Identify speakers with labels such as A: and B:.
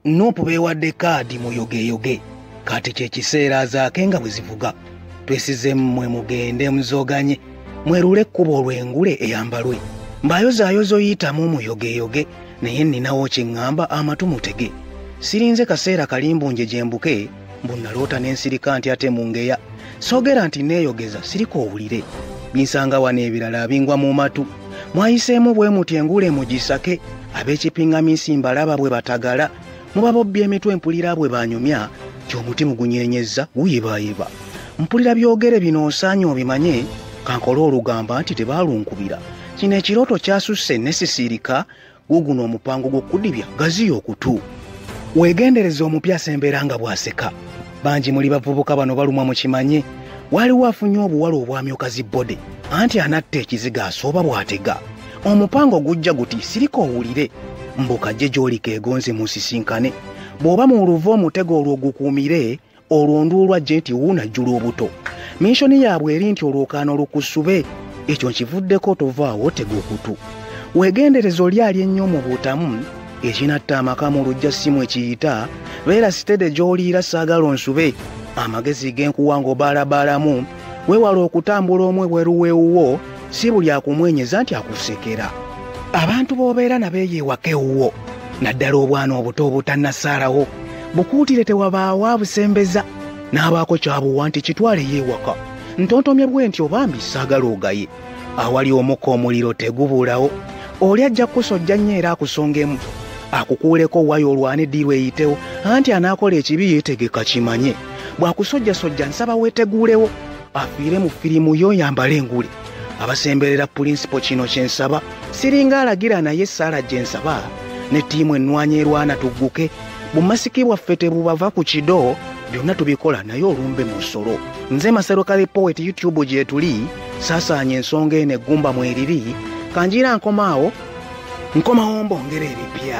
A: nuupu beewadde kaadi muyogeyoge kati kye kiseera azaake nga bwe zivuga twesize mmwe mugende muzoganye mwerule ekkubo olw'engule eyambalwe mbayozaayozo yitamu muyogeyoge naye nninawo kye ŋŋamba amatu mutege sirinze kaseera kalimbunje gye mbuke mbu naloota nensirika nti ate mungeya sogera nti neeyogeza sirika owulire binsanga wano ebirala abingwa mu matu mwayiseemu bwe muti enguula emugisake ab'ekipingaminsi mbalaba bwe batagala muba bobbya emitwe mpulira bwe banyumya ti omuti mugunyenyezza guyibayiba mpulira byogere bino osaanye obimanye kankole olugamba nti tebaalunkubira kino ekirooto kyasusse nesisiirika guguno omupango gw'okudibya gaziya okutu weegendereza omupya asembeera nga bw'aseka bangi muli bavubuka bano balumwa mu kimanye waaliwo afunye obuwala obwamyuka zi bode anti anatta ekiziga asooba bw'atega omupango gujja guti sirika owulire mbuka gye gy'olika egonze mu nsisinkane bw'oba mu luva omutego olwo gukuumire olwo nduulu ajje nti wuunajjula obuto minshoni yaabwe eri nti olwokaana olukusube ekyo nkivuddeko tovaawo otega okutu weegendereza oli ali ennyo mu butamu ekinatta amaka mu lujja ssimu ekiyita beera sitede gy'oliira saagala onsube amagezi genkuwa ng'obaalabaalamu Weewala okutambula omu ebweru w'ewuwo, si buli akumwenyeza nti akusekera. Abantu b'obeera nabo eyo ewaka ewuwo, naddala obwana obuto obutannasaalawo, bukuutire tewabaawo abusembeza n'abaako kyabuwa nti kitwaleyo ewaka. Ntontomye bwe nti obambi saagala ogaye. awali omuka omuliro tegubuulawo oli ajja kukusojja nnyo era akusongemu akukuuleko wayo olwane ddiirwa eyitewo anti anaakola ekibi yeetegeka kimanye bw'akusojjasojja nsaba weeteguulewo afiire mu firimu yo yambala engule abasemberera pulinsipo kino kye nsaba siringa alagira naye esaala gye nsaba ne ttiimu ennwanya erwana tugguke bumasiki bwaffe tebubava ku kido byonna tubikola naye olumbe mu nsolo nze masero kale poweti youtube gyetuli saasaanya ensonga eno eggumba mweriri kanjiira nkomaawo nkomawo mbongera ebipya